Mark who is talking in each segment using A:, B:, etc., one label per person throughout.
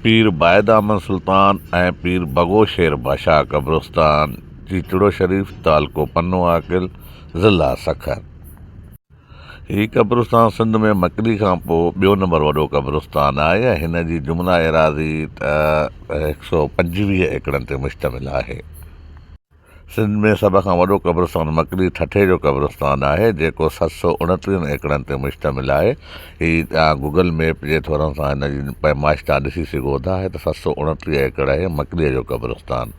A: پير بايدامن سلطان ۽ پير بگو شير باشاهه قبرستان، چيچڙو شريف، تعلقو پنو عاقل، ضلع سکر. هي قبرستان سنڌ ۾ مڪلي کان پوء ٻيو نمبر وڏو قبرستان آهي ۽ هن جي جملا ايراضي هڪ سؤ پنجويهه ايڪڙن تي مشتمل آهي. سنڌ ۾ سڀ کان وڏو قبرستان مڪلي ٺٽي جو قبرستان آهي جيڪو ست سؤ اڻٽيهن ايڪڙن تي مشتمل آهي هي توهان گوگل ميپ جي ٿورن سان هن جي پيمائش توهان ڏسي سگهو ٿا هي ته ست سؤ اڻٽيهه ايڪڙ آهي مڪلي جو قبرستان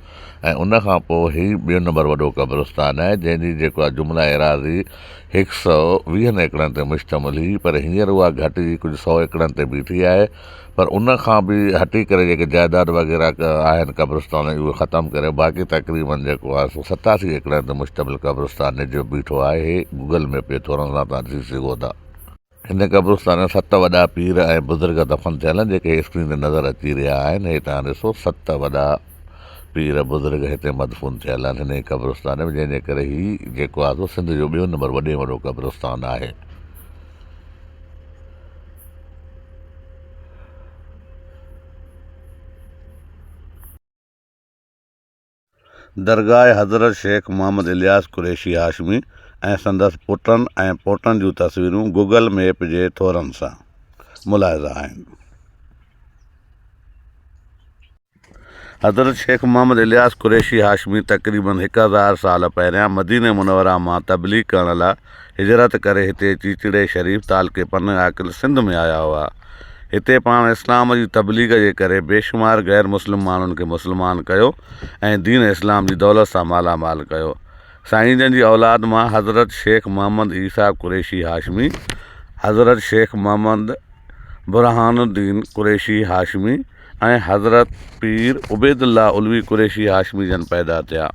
A: ۽ ان کان پوء هي ٻيو نمبر وڏو قبرستان آهي جنهن جي جيڪا جملا ايراضي هڪ سؤ ويهن ايڪڙن تي مشتمل هئي پر هينئر اها گهٽجي ڪجهه سؤ ايڪڙن تي بيٺي آهي پر ان کان به هٽي ڪري جيڪي جائيداد وغيره آهن قبرستان جي اهي ختم ڪري باقي تقريبن جيڪو آهي سو ستاسي ايڪڙن تي مشتمل قبرستان نجي بيٺو آهي هي گوگل ميپ جي ٿورن سان توهان ڏسي سگهو ٿا. هن قبرستان ۾ ست وڏا پير ۽ بزرگ دفن ٿيل آهن جيڪي هي اسڪرين تي نظر اچي رهيا آهن هي توهان ڏسو ست وڏا پير بزرگ هتي مدفون ٿيل آهن هن ئي قبرستان ۾ جنهن جي ڪري هي جيڪو آهي سو سنڌ جو ٻيو نمبر وڏي ۾ وڏو قبرستان آهي. درگاهه حضرت شيخ محمد الياس قريشي هاشمي ۽ سندس پٽن ۽ پوٽن جون تصويرون گوگل ميپ جي ٿورن سان ملاحظه آهن. حضرت شيخ محمد الياس قريشي هاشمي تقريباً هڪ هزار سال پهريان مديني منوره مان تبليغ ڪرڻ لاء هجرت ڪري هتي چيچڙي شريف تعلقي پنه عاقل سنڌ ۾ آيا هئا. هتي پاڻ اسلام جي تبليغ جي ڪري بيشمار غير مسلم ماڻهن کي مسلمان ڪيو ۽ دين اسلام جي دولت سان مالا مال ڪيو. سائين جن جي اولاد مان حضرت شيخ محمد عيسيٰ قريشي هاشمي، حضرت شيخ محمد برهان الدين قريشي هاشمي، ۽ حضرت پير عبيدالله علوي قريشي هاشمي جن پيدا ٿيا.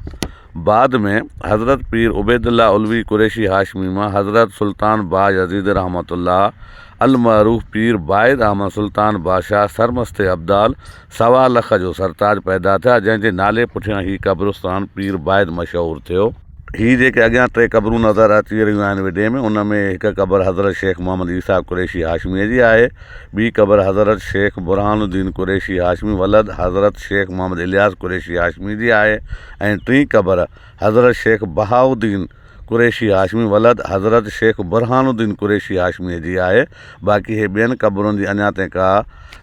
A: بعد ۾ حضرت پير عبيدالله علوي قريشي هاشمي مان حضرت سلطان باج يزيدي رحمة الله المعروف پير بايد احمد سلطان بادشاهه سرمست ابدال سوا لک جو سرتاج پيدا ٿيا جنهن جي نالي پٺيان هي قبرستان پير بايد مشهور ٿيو. هي جيڪي اڳيان ٽي قبرون نظر اچي رهيون آهن وڊيو ۾ ان ۾ هڪ قبر حضرت شيخ محمد عيسيٰ قريشي هاشميء جي آهي، ٻي قبر حضرت شيخ برهان الدين قريشي هاشمي ولد حضرت شيخ محمد الياس قريشي هاشمي جي آهي ۽ ٽين قبر حضرت شيخ بهاء الدين قريشي هاشمي ولد حضرت شيخ برهان الدين قريشي هاشميء جي آهي باقي هي ٻين قبرن جي اڃا تائين ڪا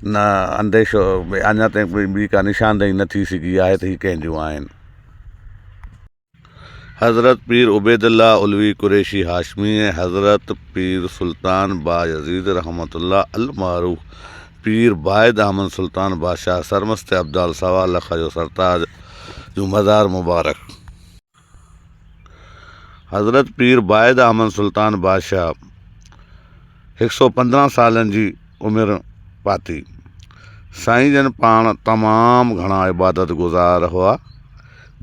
A: نه انديشو اڃا تائين ٻي ڪا نشاندهي نه ٿي سگهي آهي ته هي ڪنهن جون آهن. حضرت پير عبيدالله علوي قريشي هاشمي ۽ حضرت پير سلطان بايزيد رحمة الله المعروف پير بايد احمد سلطان بادشاهه سرمست ابدال سوا لک جو سرتاج جو مزار مبارڪ حضرت پير بايد احمد سلطان بادشاهه هڪ سؤ پندرهن سالن جي عمر پاتي. سائين جن پاڻ تمام گهڻا عبادت گذار هئا.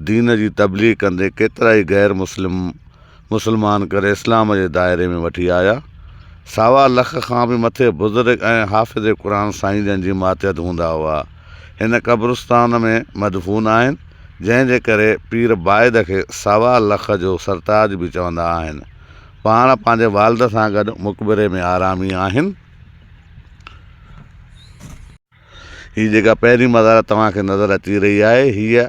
A: دين جي تبليغ ڪندي ڪيترائي غير مسلم مسلمان ڪري اسلام جي دائري ۾ وٺي آيا. سوا لک کان به مٿي بزرگ ۽ حافظ قرآن سائين جن جي ماتحت هوندا هئا. هن قبرستان ۾ مدفون آهن، جنهن جي ڪري پير بايد کي سوا لک جو سرتاج به چوندا آهن. پاڻ پنهنجي والد سان گڏ مقبري ۾ آرامي آهن. هي جيڪا پهرين مزار توهان کي نظر اچي رهي آهي، هيء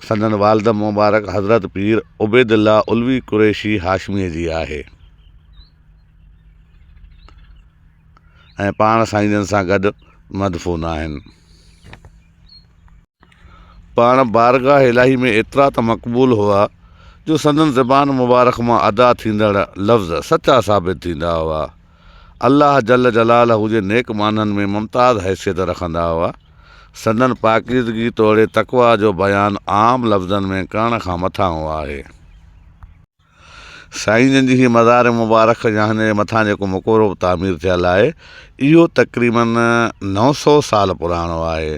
A: سندن والد مبارڪ حضرت پير عبيدالله علوي قريشي هاشميء جي آهي ۽ پاڻ سائين جن سان گڏ مدفون آهن. پاڻ بارگاهه الاهي ۾ ايترا ته مقبول هئا جو سندن زبان مبارڪ مان ادا ٿيندڙ لفظ سچا ثابت ٿيندا هئا. الله جل جلاله جي نيڪ ماڻهن ۾ ممتاز حيثيت رکندا هئا. سندن پاڪيزگي توڙي تقويٰ جو بيان عام لفظن ۾ ڪرڻ کان مٿانهون آهي. سائين جن جي هيء مزار مبارڪ يا هن جي مٿان جيڪو مقبرو تعمير ٿيل آهي، اهو تقريباً نو سؤ سال پراڻو آهي.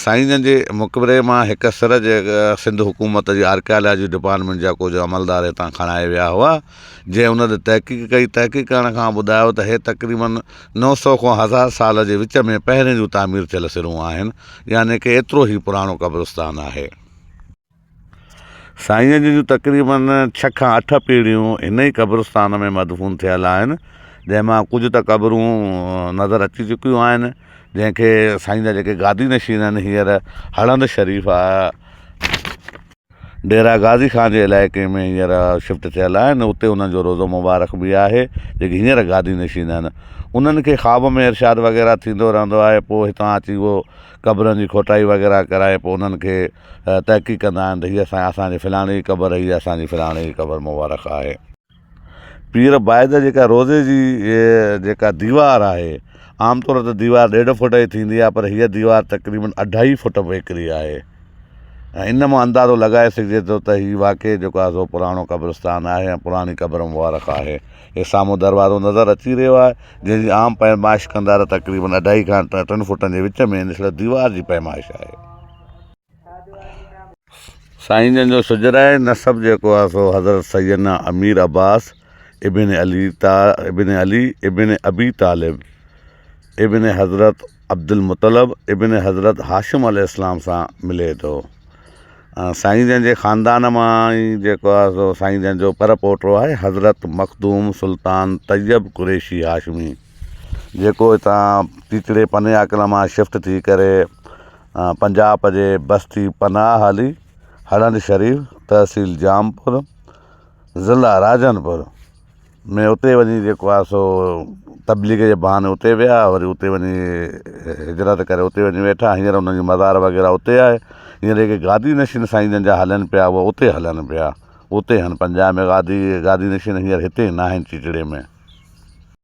A: سائين جن جي مقبري مان هڪ سر جي سنڌ حڪومت جي آرڪيالاجي ڊپارٽمينٽ جا ڪجهه عملدار هتان کڻائي ويا هئا، جنهن ان تي تحقيق ڪئي، تحقيق ڪرڻ کان ٻڌايو ته هي تقريباً نو سؤ کان هزار سال جي وچ ۾ پهرين جون تعمير ٿيل سرون آهن، يعني ڪي ايترو هي پراڻو قبرستان آهي. سائينء جون تقريبن ڇهه کان اٺ پيڙهيون هن ئي قبرستان ۾ مدفون ٿيل آهن، جنهن مان ڪجهه ته قبرون نظر اچي چڪيون آهن، جنهن کي سائين جا جيڪي گادي نشين آهن، هينئر هڙهند شريف ڊيرا غازي خان جي علائقي ۾ هينئر شفٽ ٿيل آهن، اتي انهن جو روضو مبارڪ به آهي، جيڪي هينئر گادي نشين آهن، انهن کي خواب ۾ ارشاد وغيره ٿيندو رهندو آهي، پوء هتان اچي اهو قبرن جي کوٽائي وغيره ڪرائي پوء انهن کي تحقيق ڪندا آهن ته هيء سائين اسان جي فلاڻي جي قبر هيء اسان جي فلاڻي جي قبر مبارڪ آهي. پير بايء جي جيڪا روضي جي جيڪا ديوار آهي عام طور ته ديوار ڏيڍ فوٽ جي ٿيندي آهي پر هيء ديوار تقريبن اڍائي فوٽ ويڪري آهي ۽ ان مان اندازو لڳائي سگهجي ٿو ته هي واقعي جيڪو آهي سو پراڻو قبرستان آهي ۽ پراڻي قبر مبارڪ آهي. هي سامهون دروازو نظر اچي رهيو آهي جنهن جي عام پيمائش ڪندا ته تقريبن اڍائي کان ٽن فوٽن جي وچ ۾ نسبت ديوار جي پيمائش آهي. سائين جن جو سجرائي نسب جيڪو آهي سو حضرت سيدنا امير عباس ابن علي طا ابن علي ابن ابي طالب ابن حضرت عبدالمطلب ابن حضرت هاشم عليه السلام سان ملي ٿو سائين جن جي خاندان مان ئي جيڪو آهي سو سائين جن جو پر پوٽو آهي حضرت مخدوم سلطان طيب قريشي هاشمي جيڪو هتان ٽيڪڙي پني آڪل مان شفٽ ٿي ڪري پنجاب جي بستي پناهه علي، هڙهند شريف، تحصيل جام پور، ضلع راجن پور ۾ اتي وڃي جيڪو آهي سو تبليغ جي بهاني اتي ويا وري اتي وڃي هجرت ڪري اتي وڃي ويٺا هينئر انهن جو مزار وغيره اتي آهي هينئر جيڪي گادي نشين سائين جن جا هلن پيا هو اتي هلن پيا اتي هن پنجاب ۾ گادي گادي نشين هينئر هتي ناهن چچڙي ۾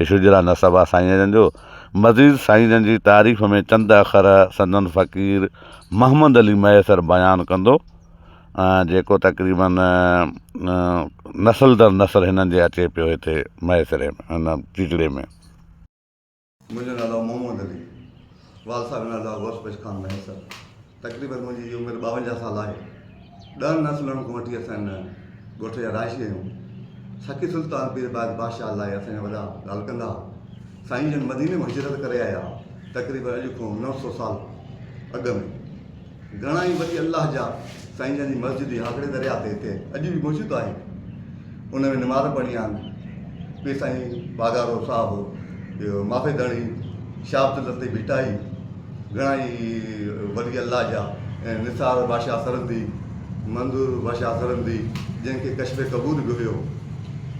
A: عشق جي لاء نسب آ سائين جن جو. مزيد سائين جن جي تعريف ۾ چند اکر سندن فقير محمد علي مهيسر بيان ڪندو ۽ جيڪو تقريباً نسل در نسل هنن جي اچي پيو هتي مهيسري ۾ هن ٽيٽڙي ۾.
B: منهنجو نالو محمد علي والد صاحب جو نالو غوث پيش خان مهيسر تقريبن منهنجي جي عمر ٻاونجاهه سال آهي ڏهن نسلن کان وٺي اسان هن ڳوٺ جا رهائشي آهيون سخي سلطان پير باز بادشاهه لاء اسان جا وڏا ڳالهه ڪندا هئا سائين جن مديني ۾ هجرت ڪري آيا تقريبن اڄ کان نو سو سال اڳ ۾ گهڻا ئي ولي الله جا سائين جن جي مسجد هاڪڙي درياهه تي هتي اڄ به موجود آهي ان ۾ نماز پڙهڻي آن ٻي سائين باگارو صاحب ٻيو مافي ڌڻي شاهه عبد الطيف ڀٽائي گهڻا ئي ولي الله جا نثار بادشاهه سرندي منظور بادشاهه سرندي جنهن کي کشب قبول به هيو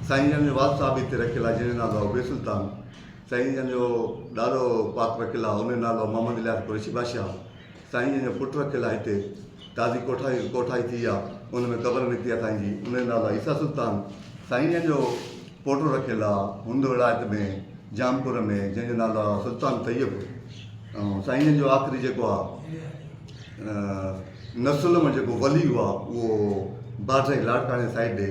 B: سائين جن جو والد صاحب هتي رکيل آهي جنهن جو نالو بي سلطان سائين جن جو ڏاڏو پاڪ رکيل آهي ان جو نالو محمد الياس قريشي بادشاهه سائين جن جو پٽ رکيل آ هتي تازي ڪوٺائي ڪوٺائي ٿي آ ان ۾ قبر نڪتي آ سائين جي ان جو نالو آ عيسيٰ سلطان سائين جن جو پوٽو رکيل آ هند ولايت ۾ جامپور ۾ جن جو نالو آ سلطان طيب ۽ سائين جن جو آخري جيڪو آ نسل ۾ جيڪو ولي هو آ اهو باڊري لاڙڪاڻي سائيڊ ڏي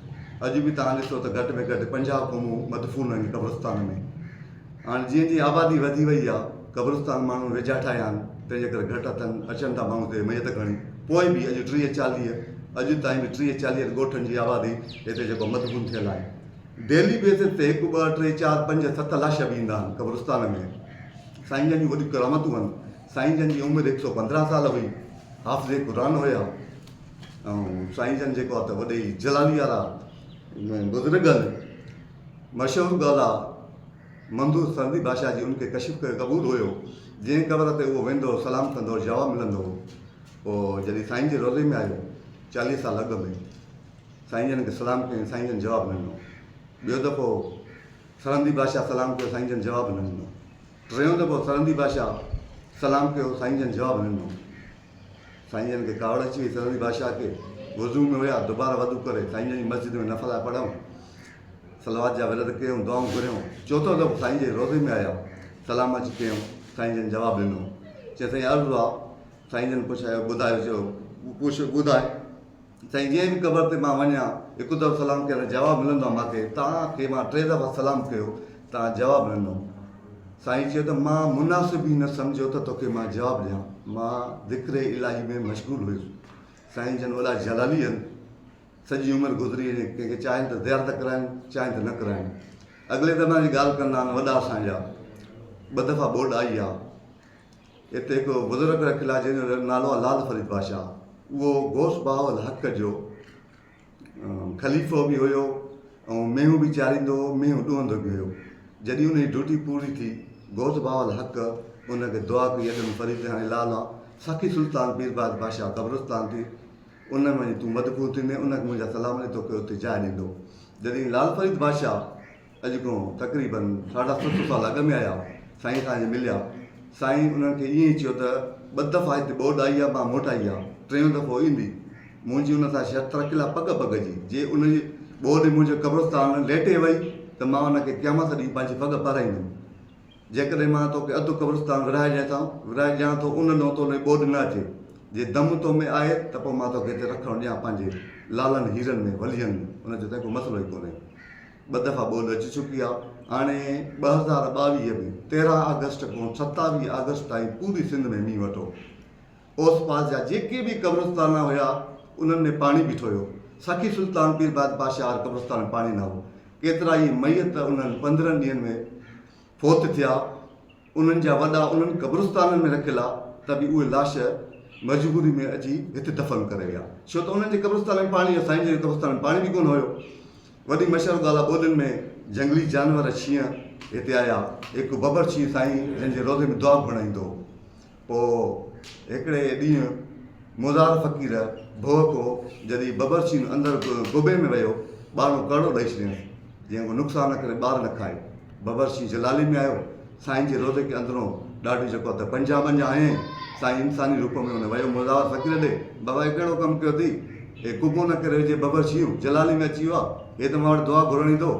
B: اڄ به توهان ڏسو ته گهٽ ۾ گهٽ پنجاهه قومون مدفون آهن قبرستان ۾ هاڻي جيئن جيئن آبادي وڌي وئي آهي قبرستان ماڻهن ويجها ٺاهيا آهن تنهن جي ڪري گهٽ اٿن اچن ٿا ماڻهو هتي ميت کڻي پوء به اڄ ٽيهه چاليهه اڄ تائين به ٽيهه چاليهن ڳوٺن جي آبادي هتي جيڪو مدفون ٿيل آهي ڊيلي بيسز تي هڪ ٻه ٽي چار پنج ست لاش به ايندا آهن قبرستان ۾ سائين جن جون وڏيون ڪرامتون آهن سائين جن جي عمر هڪ سؤ پندرهن سال هئي حافظ قرآن هيا ۽ سائين جن جيڪو آ ته وڏي جلالي وارا بزرگ ان مشهور ڳالهه آ منظور سرندي بادشاهه جي ان کي ڪشف ڪري قبول هيو جنهن قبر تي اهو ويندو هو سلام ڪندو هو جواب ملندو هو پوء جڏهن سائين جي روضي ۾ آيو چاليهه سال اڳ ۾ سائين جن کي سلام ڪيائين سائين جن جواب نه ڏنو ٻيو دفعو سرندي بادشاهه سلام ڪيو سائين جن جواب نه ڏنو ٽيون دفعو سرندي بادشاهه سلام ڪيو سائين جن جواب نه ڏنو سائين جن کي ڪاوڙ اچي وئي سرهندي بادشاهه کي وضو ۾ هيا دوباره وضو ڪري سائين جن جي مسجد ۾ نفلا پڙهيائون صلوات جا ورد ڪيائون دعائون گهريائون چوٿون دفعو سائين جي روضي ۾ آيا سلام اچي ڪيائون سائين جن جواب ڏنو چيائين سائين عرض آ سائين جن پڇايو ٻڌايو چيو پوڇ ٻڌاء سائين جنهن به قبر تي مان وڃان هڪ دفعو سلام ڪيان ته جواب ملندو آهي ماکي توهان کي مان ٽي دفعا سلام ڪيو توهان جواب نه ڏنو سائين چيو ته مان مناسب ئي نه سمجهيو ته توکي مان جواب ڏيان مان ذڪر الاهي ۾ مشغول هيس سائين جن وڏا جلالي هن سڄي عمر گذري وڃي ڪنهن کي چاهين ته زيارت ڪرائين چاهين ته نه ڪرائين اڳلي زماني جي ڳالهه ڪندا آهن وڏا اسان جا ٻه دفعا ٻوڏ آئي آهي اتي هڪ بزرگ رکيل آهي جنهن جو نالو آهي لعل فريد بادشاهه اهو غوث بهاء الحق جو خليفو به هيو ۽ مينهون به چاريندو هو مينهون ڏوهندو به هيو جڏهن ان جي ڊيوٽي پوري ٿي غوث بهاء الحق ان کي دعا ڪئي اڄ فريد هاڻي لعل آ سخي سلطان پير باد بادشاهه قبرستان تي ان ۾ وڃي تون مدفون ٿيندين ان کي منهنجا سلام ڏي توکي اتي جاء ڏيندو جڏهن لعل فريد بادشاهه اڄ کان تقريباً ساڍا ست سؤ سال اڳ ۾ آيا، سائين اسان جي مليا. سائين انهن کي ائين ئي چيو ته ٻه دفعا هتي ٻوڏ آئي آهي، مان موٽ آئي آهي، ٽيون دفعو ايندي. منهنجي ان سان شرط رکيل آهي پڳ پڳ جي، جي ان جي ٻوڏ ۾ منهنجو قبرستان ليٽي وئي ته مان ان کي قيامت ڏينهن پنهنجي پڳ پارائيندم. جيڪڏهن مان توکي اڌ قبرستان ورهائي ڏيان ٿا، ورهائي ڏيان ٿو ان ڏانهن تون ڏي ٻوڏ نه اچي. جي دم تو ۾ آهي ته پوء مان توکي هتي رکڻ ڏيان پنهنجي لالن هيرن ۾ وليين ۾. هن چيو تنهن ڪو مسئلو ئي ڪونهي. ٻه دفعا ٻول اچي چڪي آهي هاڻي ٻه هزار ٻاويهه ۾ تيرهن آگسٽ کان ستاويهه آگسٽ تائين پوري سنڌ ۾ مينهن وٺو اوس پاس جا جيڪي به قبرستان هيا انهن ۾ پاڻي بيٺو هيو سخي سلطان پير بعد بادشاهه هر قبرستان ۾ پاڻي نه هو ڪيترا ئي ميت انهن پندرهن ڏينهن ۾ فوت ٿيا انهن جا وڏا انهن قبرستانن ۾ رکيل آ ته به اهي لاش مجبوري ۾ اچي هتي دفن ڪري ويا ڇو ته انهن جي قبرستان ۾ پاڻي يا سائين جن جي قبرستان ۾ پاڻي به ڪونه هيو وڏي مشهور ڳالهه آ ٻولين ۾ جهنگلي جانور شينهن هتي آيا هڪ ببر شينهن سائين جن جي روضي ۾ دعا گهڻائيندو هو پوء هڪڙي ڏينهن مزار فقير ڀوء ڪو جڏهن ببرچين اندر گوبي ۾ ويو، ٻارڻو ڪرڙو ڏئي ڇڏيائين، جيئن ڪو نقصان نه ڪري ٻار نه کائي. ببرچين جلالي ۾ آيو، سائين جي روضي کي اندرون ڏاڍي جهڪو ته پنجاهه ٻنجاهه هنيائين. سائين انساني روپ ۾ هن ويو مزار فقير ڏي، بابا هي ڪهڙو ڪم ڪيو اٿئي؟ هي گوبو نه ڪري ويجهي ببرچيون جلالي ۾ اچي ويو آ، هي ته مان وٽ دعا گهرڻ ايندو هو.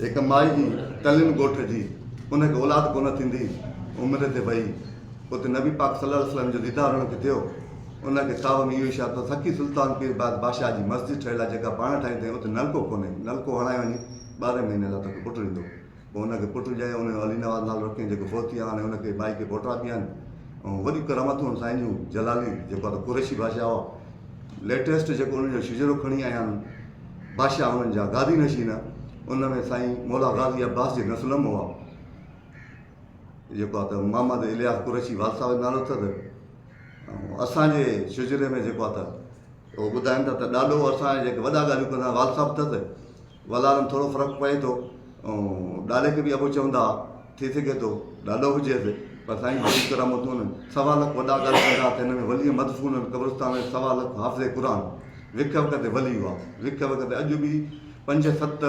B: هڪ مائي جي ٽلين ڳوٺ جي ان کي اولاد ڪونه ٿيندي عمر تي وئي اتي نبي پاڪ صلي الله عليه وسلم جو ديدار هن کي ٿيو ان کي تاوهه ۾ اهو اشارو ٿو سکي سلطان پير باز بادشاهه جي مسجد ٺهيل آهي جيڪا پاڻ ٺاهي ٿئي اتي نلڪو ڪونهي نلڪو هڻائي وڃي ٻارهين مهيني الله توکي پٽ ڏيندو پوء ان کي پٽ ڄائي ان جو علي نواز نالو رکيائين جيڪو فوتي آهي هاڻي ان کي مائي کي پوٽا ٿيا آهن ۽ وڏيون ڪرامتون هن سائين جون جلالي جيڪو آهي ته قريشي بادشاهه هئا ليٽيسٽ جيڪو ان جو شجرو کڻي آيا آهن بادشاهه هنن جا گادي نشين ها. ان ۾ سائين مولا غازي عباس جي نسل م هئا. جيڪو آ ته محمد الياس قريشي والصاحب جو نالو اٿس. ۽ اسان جي شجري ۾ جيڪو آ ته او ٻڌائن ٿا ته ڏاڏو اسان جا جيڪي وڏا ڳالهيون ڪندا والصاحب اٿس. ولارن ٿورو فرق پئي ٿو. ۽ ڏاڏي کي به ابو چوندا ها. ٿي سگهي ٿو ڏاڏو هجيس پر سائين هولي طرح متون سوا لک وڏا ڳالهه ڪندا ته هن ۾ ولي مدفون قبرستان ۾ سوا لک حافظ قرآن وک وک تي ولي هئا وک وک تي اڄ به پنج ست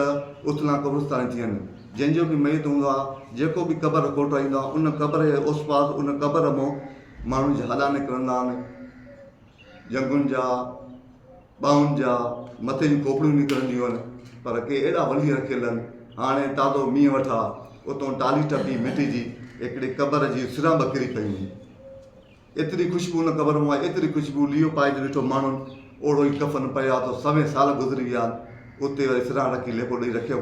B: اٿلان قبرستان ٿي آهن جنهن جو به ميت هوندو آهي جيڪو به قبر کوٽائيندو آهي ان قبر جي اوسپاس ان قبر مون ماڻهن جي هاڏا نڪرندا آهن ڄنگهن جا، ٻانهن جا، مٿي جون کوپڙيون نڪرنديون هن، پر ڪي اهڙا ولي رکيل هن. هاڻي تازو مينهن وٺا، اتون ٽالي ٽپي مٽي جي هڪڙي قبر جي سران ٻڪري پيون هين. ايتري خوشبو ان قبر مان آئي، ايتري خوشبو، ليئو پائج ڏٺو ماڻهن اوڙهو ئي ڪفن پيو آتو، سوين سال گذري ويا هن، اتي وري سران رکي ليپو ڏئي رکيم.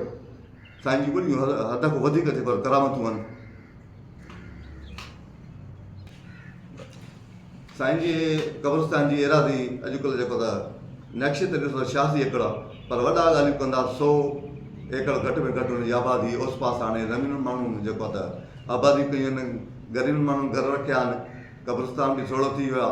B: سائين جي وڏيون حد کان وڌيڪ ٿي پر ڪرامتون آھن سائين جي قبرستان جي ايراضي اڄ ڪلھ جيڪو ته نقشي تي ڏسو ته ڇياسي ايڪڙ آ پر وڏا ڳالھيون ڪندا سو ايڪڙ گھٽ ۾ گھٽ ان جي آبادي اوس پاس آڻي رميل ماڻھن جيڪو ته آبادي ڪيون آھن غريبن ماڻھن گھر رکيا آھن قبرستان به سوڙھو ٿي ويو آ.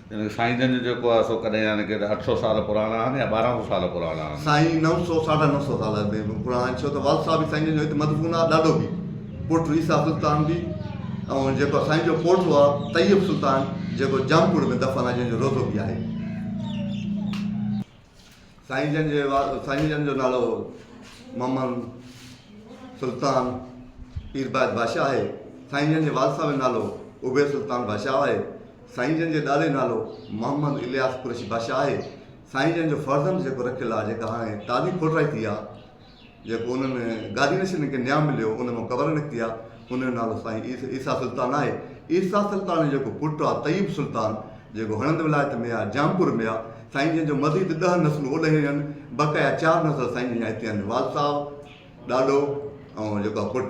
B: يعني سائين جن جو
A: جيڪو آهي سو ڪڏهن يعني ڪيڏا اٺ سؤ سال پراڻا آهن يا ٻارهن سؤ سال پراڻا آهن؟ سائين نو سؤ ساڍا
B: نو سؤ سال اڳ پراڻا آهن ڇو ته والد صاحب سائين جن جو هت مدفون آهي ڏاڏو به پوٽو عيسيٰ سلطان به ۽ جيڪو سائين جو پوٽو آهي طيب سلطان جيڪو جام پور ۾ دفن آهي جنهن جو روضو به آهي. سائين جن جي سائين جن جو نالو محمد سلطان پير بايت بادشاهه آهي سائين جن جي والد صاحب جو نالو عبيد سلطان بادشاهه آهي سائين جن جي ڏاڏي نالو محمد الياس قريشي بادشاهه آهي سائين جن جو فرزند جيڪو رکيل آهي جيڪا هاڻي تازي کوٽرائي ٿي آهي جيڪو انهن گادي نشينن کي نيام مليو، ان مان قبر نڪتي آ، ان جو نالو سائين عيسيٰ سلطان آهي. عيسيٰ سلطان جو جيڪو پٽ آ طيب سلطان، جيڪو هڻند ولايت ۾ آ، جامپور ۾ آ، سائين جن جون مزيد ڏهه نسلون اوڏهين ويون، بقايا چار نسل سائين جن جا هتي آهن، والد صاحب، ڏاڏو ۽ جيڪو آ پٽ.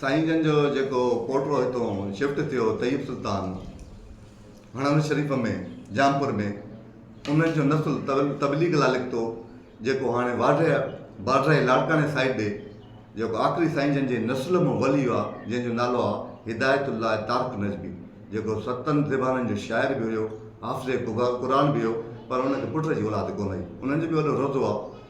B: سائين جن جو جيڪو پوٽو هتون شفٽ ٿيو طيب سلطان هڻل شريف ۾ جامپور ۾ انهن جو نسل تبليغ لا لکتو جيڪو هاڻي واڍيا باڊرائي لاڙڪاڻي سائيڊ ڏي جيڪو آخري سائين جن جي نسل مون ولي آ جنهن جو نالو آ هدايت الله تارڪ نجبي جيڪو ستن زبانن جو شاعر به هيو حافظ قرآن به هيو پر ان کي پٽ جي اولاد ڪونه هئي انهن جو به وڏو روضو آ.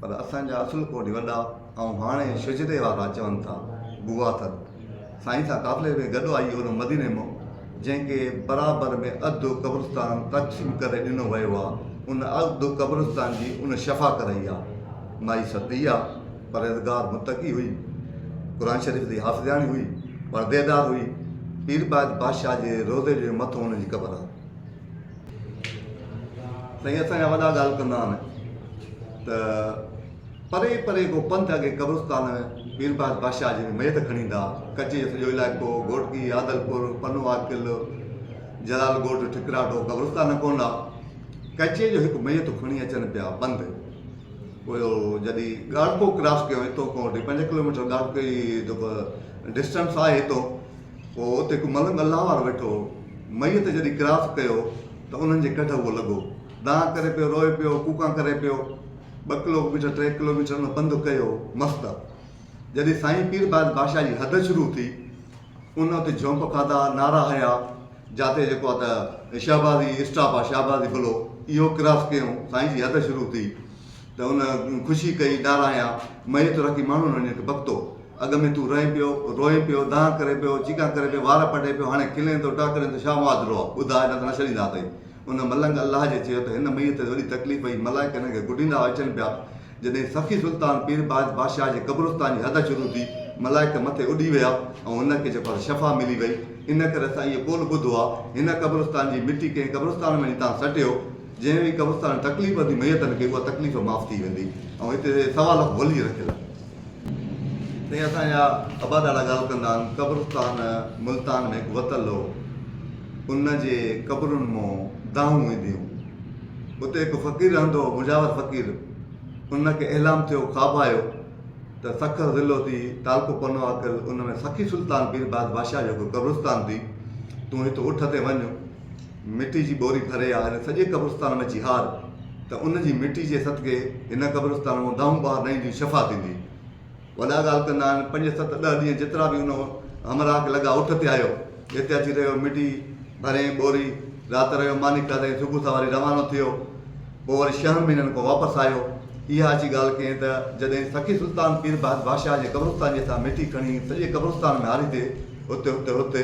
B: پر اسان جا اصل ڪوٽي وڏا ۽ هاڻي شجري وارا چون ٿا بوا ٿر سائين سان قافلي ۾ گڏ آئي هن مديني مان جنهن کي برابر ۾ اڌ قبرستان تقسيم ڪري ڏنو ويو آ ان اڌ قبرستان جي ان شفا ڪرائي آ مائي ستي آ پرهيزگار متقي هئي قرآن شريف جي حافظياڻي هئي پرديدار هئي پير بايت بادشاهه جي روضي جي مٿو ان جي قبر آ سائين اسان جا وڏا ڳالهه ڪندا آهن ته پري پري ڪو پنڌ اڳي قبرستان پير بهادر بادشاهه جي ميت کڻي ايندا ڪچي جو سڄو علائقو گهوٽڪي عادلپور پنو عاقل جلال ڳوٺ ٺڪراٽو قبرستان ڪون هئا ڪچي جو هڪ ميت کڻي اچن پيا پنڌ پوء جڏي ڳاڙهپو ڪراس ڪيو هتو کان وٺي پنج ڪلوميٽر ڳاڙهپي جي جيڪو ڊسٽنس آهي هتو پوء اتي هڪ ملنگ الله وارو ويٺو هو. ميت جڏهن ڪراس ڪيو ته انهن جي ڪڍ اهو لڳو. دانهن ڪري پيو، روئي پيو، ڪوڪان ڪري پيو. ٻه ڪلو ميٽر، ٽي ڪلو ميٽر ان پنڌ ڪيو. مس ته جڏهن سائين پير باز بادشاهه جي حد شروع ٿي، ان اتي جهونپ کاڌا، نعرا هنيا، جاتي جيڪو آ ته شهبازي اسٽاپ آ، شهبازي بلو، اهو ڪراس ڪيئون، سائين جي حد شروع ٿي. ته ان خوشي ڪئي ڏارايان، مئي تو رکي ماڻهو نه نيٺ بڪتو. اڳ ۾ تون رئين پيو، روئين پيو، دانهن ڪرين پيو، چيڪان ڪرين پيو، وار پٽين پيو، هاڻي کلين ٿو، ٽهڪرين ٿو، شاهه معاذ روء، ٻڌاء نه ته نه ڇڏيندا اٿئي. ان ملنگ الله جي چيو ته هن مئي تي وڏي تڪليف پئي، ملائڪ هن کي گڏيندا هئا اچن پيا. جڏهن سخي سلطان پير باز بادشاهه جي قبرستان جي حد شروع ٿي، ملائڪ مٿي اڏي ويا ۽ هن کي جيڪو آهي سو شفا ملي وئي. ان ڪري اسان اهو قول ٻڌو آهي، هن قبرستان جي مٽي ڪنهن قبرستان وڃي تان سٽيو، جنهن به قبرستان تڪليف ڏني ميت کي اها تڪليف معاف ٿي ويندي ۽ هتي سوا لک ولي رکيل آهن. سائين اسان جا ابا ڏاڏا ڳالهه ڪندا آهن قبرستان ملتان ۾ هڪ وتل هو ان جي قبرن مون دانهون اينديون اتي هڪ فقير رهندو هو مجاور فقير ان کي احلام ٿيو خواب آيو ته سکر ضلعو ٿي تعلقو پنو عقل ان ۾ سخي سلطان پير باز بادشاهه جو هڪ قبرستان ٿي تون هت اٺ تي وڃ مٽي جي ٻوري ڀري آ هن سڄي قبرستان ۾ جهار ته ان جي مٽي جي صدقي هن قبرستان مان دانهون ٻاهر نه اينديون شفا ٿيندي وڏا ڳالهه ڪندا آهن پنج ست ڏهه ڏينهن جيترا به ان همراهه کي لڳا اٺ تي آيو هتي اچي رهيو مٽي ڀريائين ٻوري رات رهيو ماني کاڌائين صبح سواري روانو ٿيو پوء وري ڇهن مهينن کان واپس آيو. اها اچي ڳالهه ڪيائين ته جڏهن سخي سلطان پير بهت بادشاهه جي قبرستان جي هٿان ميٿي کڻي سڄي قبرستان ۾ هاري تي هت هت هت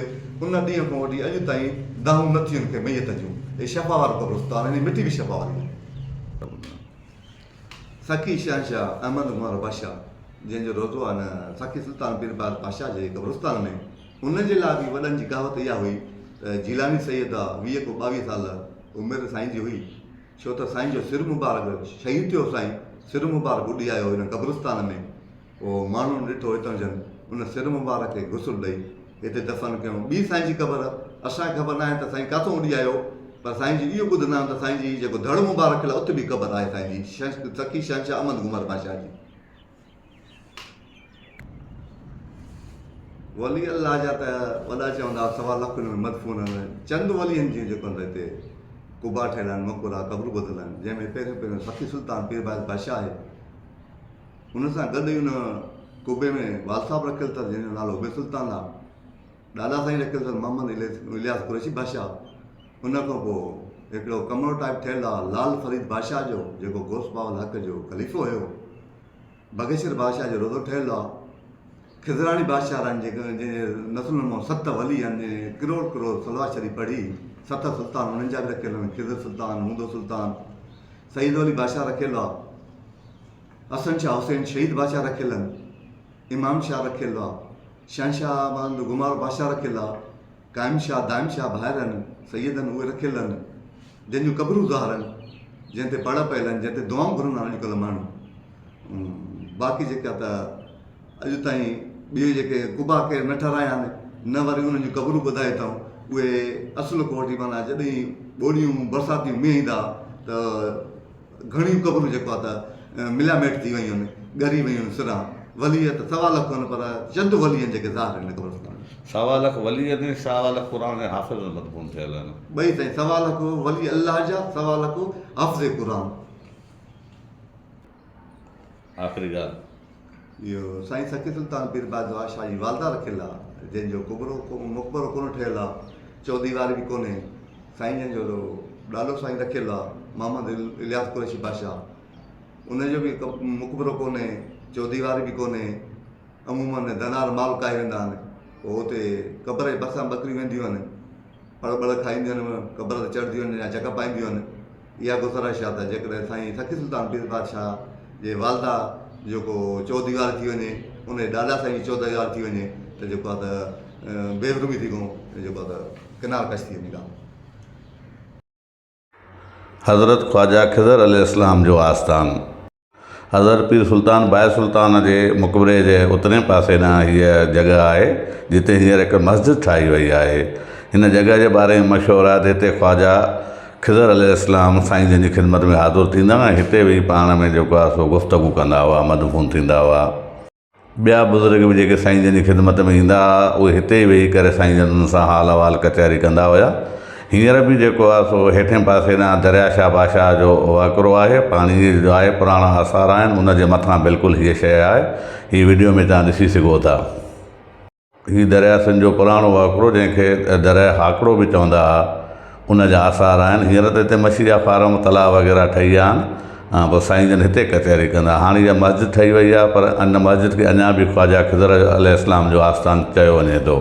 B: ان ڏينهن کان وٺي اڄ تائين دانهون نه ٿيون کي ميت جون هي شفا وارو قبرستان هن جي مٽي به شفا واري آهي. سخي شهنشاهه احمد گهوار بادشاهه جنهن جو روضو آهي نه سخي سلطان پير بهت بادشاهه جي قبرستان ۾. ان جي لاء به وڏن جي ڪهاوت اها هئي ته جيلاني سيد آ ويهه ڪو ٻاويهه سال عمر سائين جي هئي ڇو ته سائين جو سر مبارڪ شهيد ٿيو سائين سر مبارڪ اڏيايو هن قبرستان ۾ پوء ماڻهن ڏٺو اتان جن ان سر مبارڪ کي غسل ڏئي هتي دفن ڪيون ٻي سائين جي قبر اسان کي خبر ناهي ته سائين ڪاٿو اڏيايو پر سائين جي اهو ٻڌندا آهن ته سائين جي جيڪو ڌڙ مبارڪ کليل آهي اتي به قبر آهي سائين جي سخي شهنشاهه احمد گمر بادشاهه جي. ولي الله جا ته وڏا چوندا سوا لک ان ۾ مدفون آهن چند ولين جون جيڪو ان هتي قبا ٺهيل آهن مقبرا قبرون ٻڌل آهن جنهن ۾ پهريون پهريون سخي سلطان پير بايز بادشاهه آهي ان سان گڏ ان قبي ۾ وال صاحب رکيل اٿس جنهن جو نالو عبيد سلطان آهي ڏاڏا سائين رکيل اثر محمد الياس قريشي بادشاهه ان کان پوء هڪڙو ڪمرو ٽائپ ٺهيل آهي لال فريد بادشاهه جو جيڪو گوس باول حق جو خليفو هيو باگيشور بادشاهه جو روضو ٺهيل آ. خضراڻي بادشاهه رن جي نسلن مان ست ولي هن ڪروڙ ڪروڙ صلوات شريف پڙهي، ست سلطان انهن جا به رکيل آهن، خضر سلطان، موندو سلطان، سعيد علي بادشاهه رکيل آ، حسن شاهه حسين شهيد بادشاهه رکيل آهن، امام شاهه رکيل آ، شهنشاهه محمد گمار بادشاهه رکيل آ. قائم شاهه دائم شاهه ڀائرن سيدن اهي رکيلن جن جون قبرون ظاهرن جنهن تي پڙ پيلن جنهن تي دعائون گهرن ها اڄڪلهه ماڻهو باقي جيڪا ته اڄ تائين ٻيو جيڪي قبا ڪير نه ٺهرايا آهن نه وري انهن جون قبرون ٻڌائي اٿائون اهي اصل کان وٺي معنيٰ جڏهن ٻوڏيون برساتيون مينهن ايندا ته گهڻيون قبرون جيڪو آ ته مليا ميٽ ٿي ويون آهن، ڳري ويون آهن سران. ولي ته سوا لک هن پر چند ولي آهن جيڪي ظاهر هن قبرستان ۾. سوا لک ولي
A: آهن ۽ سوا لک قرآن جا حافظ به مدفون ٿيل آهن. ٻئي سائين سوا لک
B: ولي الله جا سوا لک حافظ قرآن.
A: آخري ڳالهه. اهو
B: سائين سخي سلطان پير بازوار شاهه جي والده رکيل آ جنهن جو قبرو مقبرو ڪونه ٺهيل آ چوديواري به ڪونهي سائين جن جو ڏالو سائين رکيل آ محمد الياس قريشي بادشاهه ان جو به مقبرو ڪونهي چوديواري به ڪونهي عمومن ڌنار مال ڪاهي ويندا آهن پوء اتي قبر جي ڀرسان ٻڪريون وينديون آهن پڙ ٻڙ کائينديون آهن قبر تي چڙهنديون آهن يا جڪ پائينديون آهن اها ڪو سرهش آ ته جيڪڏهن سائين سخي سلطان پير پادشاهه جي والده جو ڪو چوديوار ٿي وڃي ان جي ڏاڏا سائين جي چوديوار ٿي وڃي ته جيڪو آ ته بيمحرمي ٿي ڪون جيڪو آ ته ڪنار ڪش ٿي وڃي ڪا. حضرت
A: خواجه خضر عليه السلام جو آستان. حضرت پير سلطان بايع سلطان جي مقبري جي اترئين پاسي ڏانهن هيء جڳهه آهي، جتي هينئر هڪ مسجد ٺاهي ويئي آهي. هن جڳهه جي باري ۾ مشهور آهي ته هتي خواجه خضر عليه السلام سائين جن جي خدمت ۾ حاضر ٿيندا هئا ۽ هتي ويهي پاڻ ۾ جيڪو آهي سو گفتگو ڪندا هئا، مدفون ٿيندا هئا. ٻيا بزرگ به جيڪي سائين جن جي خدمت ۾ ايندا ھئا اھي ھتي ئي ويھي ڪري سائين جن سان حال احوال ڪچھري ڪندا ھيا ھينئر به جيڪو آھي سو ھيٺين پاسي ڏانھن دريا شاھ بادشاھ جو وھڪرو آھي پاڻي جو آھي پراڻا آثار آھن ان جي مٿان بلڪل ھيء شيء آھي ھي وڊيو ۾ توھان ڏسي سگھو ٿا. هي درياهه سنڌ جو پراڻو وهڪرو جنهن کي درياهه هاڪڙو به چوندا هئا ان جا آثار آهن هينئر ته هتي مڇي جا فارم تلاء وغيره ٺهي ويا آهن ۽ پوء سائين جن هتي ڪچهري ڪندا هاڻ اها مسجد ٺهي وئي آهي پر ان مسجد کي اڃا به خواجه خضر عليه السلام جو آستان چيو وڃي ٿو.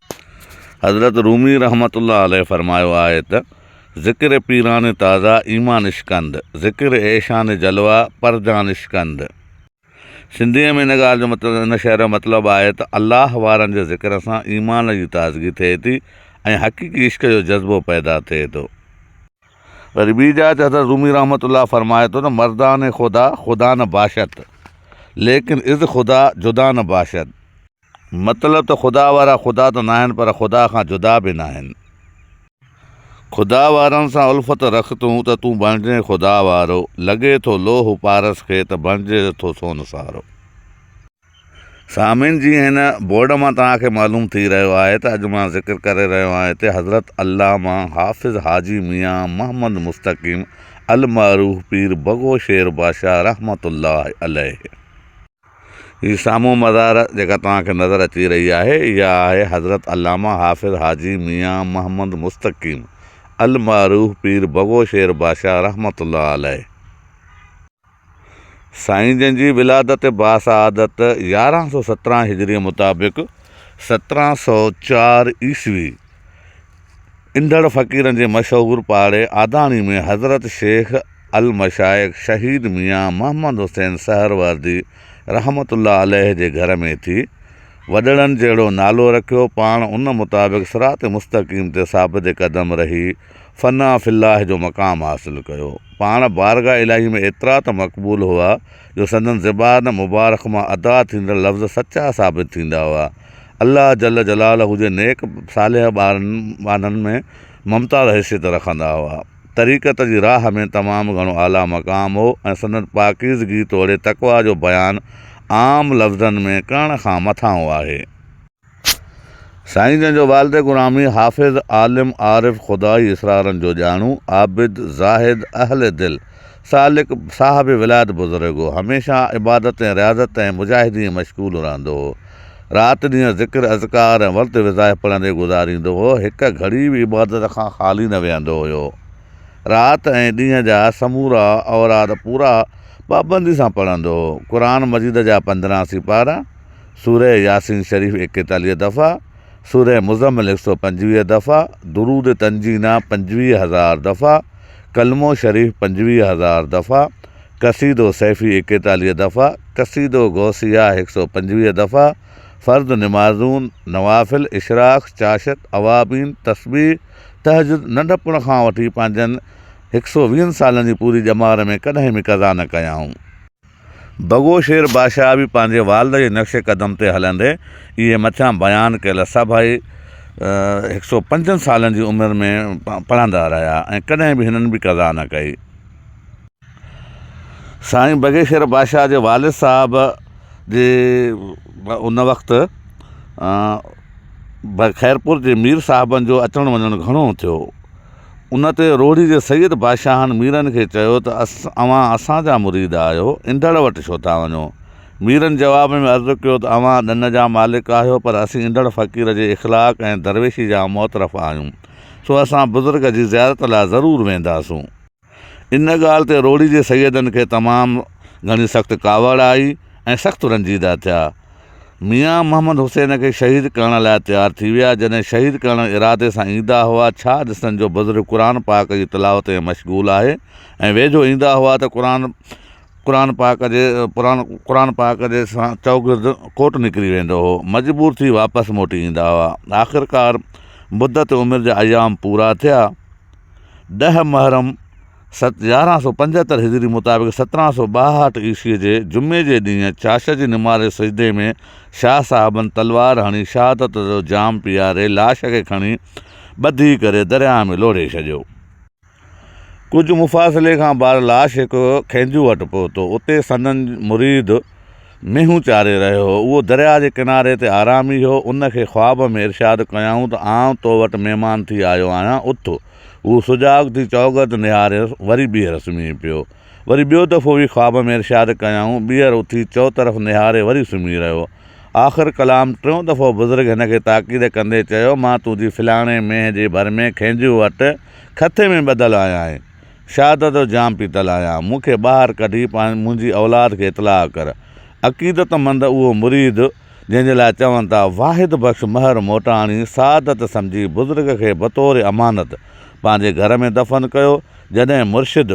A: حضرت رومي رحمة الله عليه فرمايو آهي ته، ذڪر پيران تازا ايمان اشڪند، ذڪر ايشان جلوا پرجان اشڪند. سنڌيء ۾ ان ڳالهه جو مطلب، ان شعر جو مطلب آهي ته الله وارن جي ذڪر سان ايمان جي تازگي ٿئي ٿي ۽ حقيقي عشق جو جذبو پيدا ٿئي ٿو. وري ٻي جاء تي حضرت رومي رحمة الله فرمائي ٿو ته، مردان خدا خدا نه باشد، ليڪن از خدا جدا نه باشد. مطلب ته خدا وارا خدا ته ناهن پر خدا کان جدا به ناهن. خدا وارن سان الفت رک تون ته تون بڻجين خدا وارو، لڳي ٿو لوهه پارس کي ته بڻجي ٿو سون سارو. سامعين جي هن بورڊ مان توهان کي معلوم ٿي رهيو آهي ته اڄ مان ذڪر ڪري رهيو آهيان هتي حضرت علامه حافظ حاجي ميان محمد مستقيم المعروف پير بگو شير بادشاهه رحمة الله عليه. هي سامهون مزار جيڪا توهان کي نظر اچي رهي آهي اها آهي حضرت علامه حافظ حاجي ميان محمد مستقيم المعروف پير بگو شير بادشاهه رحمة الله عليه سائين جن جي ولادت باسعادت يارهن سؤ سترهن هجري مطابق سترهن سؤ چار عيسوي اندڙ فقيرن جي مشهور پاڙي آداڻي ۾ حضرت شيخ المشائخ شهيد ميان محمد حسين سهروردي رحمة الله عليه جي گهر ۾ ٿي. وڏڙن جهڙو نالو رکيو، پاڻ ان مطابق صراط مستقيم تي ثابت قدم رهي، فنا في الله جو مقام حاصل ڪيو. پاڻ بارگاھ الاهي ۾ ايترا ته مقبول هئا، جو سندن زبان مبارڪ مان ادا ٿيندڙ لفظ سچا ثابت ٿيندا هئا. الله جل جلاله جي نيڪ صالح ٻارن ٻانهن ۾ ممتاز حيثيت رکندا هئا. طريقت جي راهه ۾ تمام گهڻو اعليٰ مقام هو ۽ سندن پاڪيزگي توڙي تقويٰ جو بيان عام لفظن ۾ ڪرڻ کان مٿانهون آهي. سائين جن جو والد گرامي حافظ، عالم، عارف، خدائي اسرارن جو ڄاڻو، عابد، زاهد، اهل دل، سالڪ صاحب ولاد بزرگ هو. هميشه عبادت ۽ رياضت ۽ مجاهدي ۾ مشغول رهندو هو. رات ڏينهن ذڪر، اذڪار ۽ ورد وظائف پڙهندي گذاريندو هو. هڪ گهڙي به عبادت کان خالي نه ويهندو هيو. رات ۽ ڏينهن جا سمورا اوراد پورا پابندي سان پڙهندو هو. قرآن مجيد جا پندرهن سيپارا، سوره ياسين شريف ايڪيتاليهه دفعا، سوره مزمل هڪ سؤ پنجويهه دفعا، درود تنجينا پنجويهه هزار دفعا، ڪلمو شريف پنجويهه هزار دفعا، قصيدو سيفي ايڪيتاليهه دفعا، قصيدو غوثيه هڪ سؤ پنجويهه دفعا، فرض نمازون، نوافل، اشراق، چاشت، اوابين، تسبيح، تهجد ننڍپڻ کان وٺي پنهنجن هڪ سؤ ويهن سالن جي پوري ڄمار ۾ ڪڏهن به قضا نه ڪيائون. بگو شير بادشاهه به پنهنجي والد جي نقش قدم تي هلندي اهي مٿيان بيان ڪيل سڀئي هڪ سئو پنجن سالن جي عمر ۾ پڙهندا رهيا ۽ ڪڏهن به هنن به قضا نه ڪئي. سائين بگي شير بادشاهه جي والد صاحب جي ان وقت خيرپور جي مير صاحبن جو اچڻ وڃڻ گهڻو ٿيو. ان تي روهڙي جي سيد بادشاهن ميرن کي چيو ته اوهان اسان جا مريد آهيو، انڍڙ وٽ ڇو ٿا وڃو؟ ميرن جواب ۾ عرض ڪيو ته اوهان ڏن جا مالڪ آهيو پر اسين انڍڙ فقير جي اخلاق ۽ درويشي جا معترف آهيون، سو اسان بزرگ جي زيارت لاء ضرور وينداسون. ان ڳالهه تي روهڙي جي سيدن کي تمام گهڻي سخت ڪاوڙ آئي ۽ سخت رنجيده ٿيا. ميان محمد حسين کي شهيد ڪرڻ لاء تيار ٿي ويا. جڏهن شهيد ڪرڻ ارادي سان ايندا هئا، ڇا ڏسن جو بزرگ قرآن پاڪ جي تلاوت ۾ مشغول آهي ۽ ويجهو ايندا هئا ته قرآن قرآن پاڪ جي قرآن پاڪ جي چوگرد ڪوٽ نڪري ويندو هو. مجبور ٿي واپس موٽي ايندا هئا. آخرڪار مدت عمر جا ايام پورا ٿيا. ڏهه محرم سن يارهن سؤ پنجهتر هجري مطابق سترهن سؤ ٻاهٺ عيسوي جي جمعي جي ڏينهن چاشت جي نماز سجدي ۾ شاهه صاحبن تلوار هڻي شهادت جو جام پياري لاش کي کڻي ٻڌي ڪري درياهه ۾ لوڙهي ڇڏيو. ڪجهه مفاصلي کان بعد لاش هڪ کينجو وٽ پهتو اتي سندن مريد مينهون چاري رهيو هو، اهو درياء جي ڪناري تي آرامي هو، ان کي خواب ۾ ارشاد ڪيائون ته آئون تو وٽ مهمان ٿي آيو آهيان، اٿ. هو سجاڳ ٿي چؤگرد نهاريس، وري ٻيهر سمهي پيو. وري ٻيو دفعو به خواب ۾ ارشاد ڪيائون، ٻيهر اٿي چؤطرف نهاري وري سمهي رهيو. آخر ڪلام ٽيون دفعو بزرگ هن کي تاڪيد ڪندي چيو، مان تنهنجي فلاڻي مينهن جي ڀر ۾ کينجهه وٽ کٿي ۾ ٻڌل آهيان ۽. شهادت جو جام پيتل آهيان، مون کي ٻاهر ڪڍي منهنجي اولاد کي اطلاع ڪر. عقيدت مند اهو مريد جنهن جي لاء چون ٿا واحد بخش مهر موٽاڻي سعادت سمجهي بزرگ کي بطور امانت پنهنجي گهر ۾ دفن ڪيو جڏهن مرشد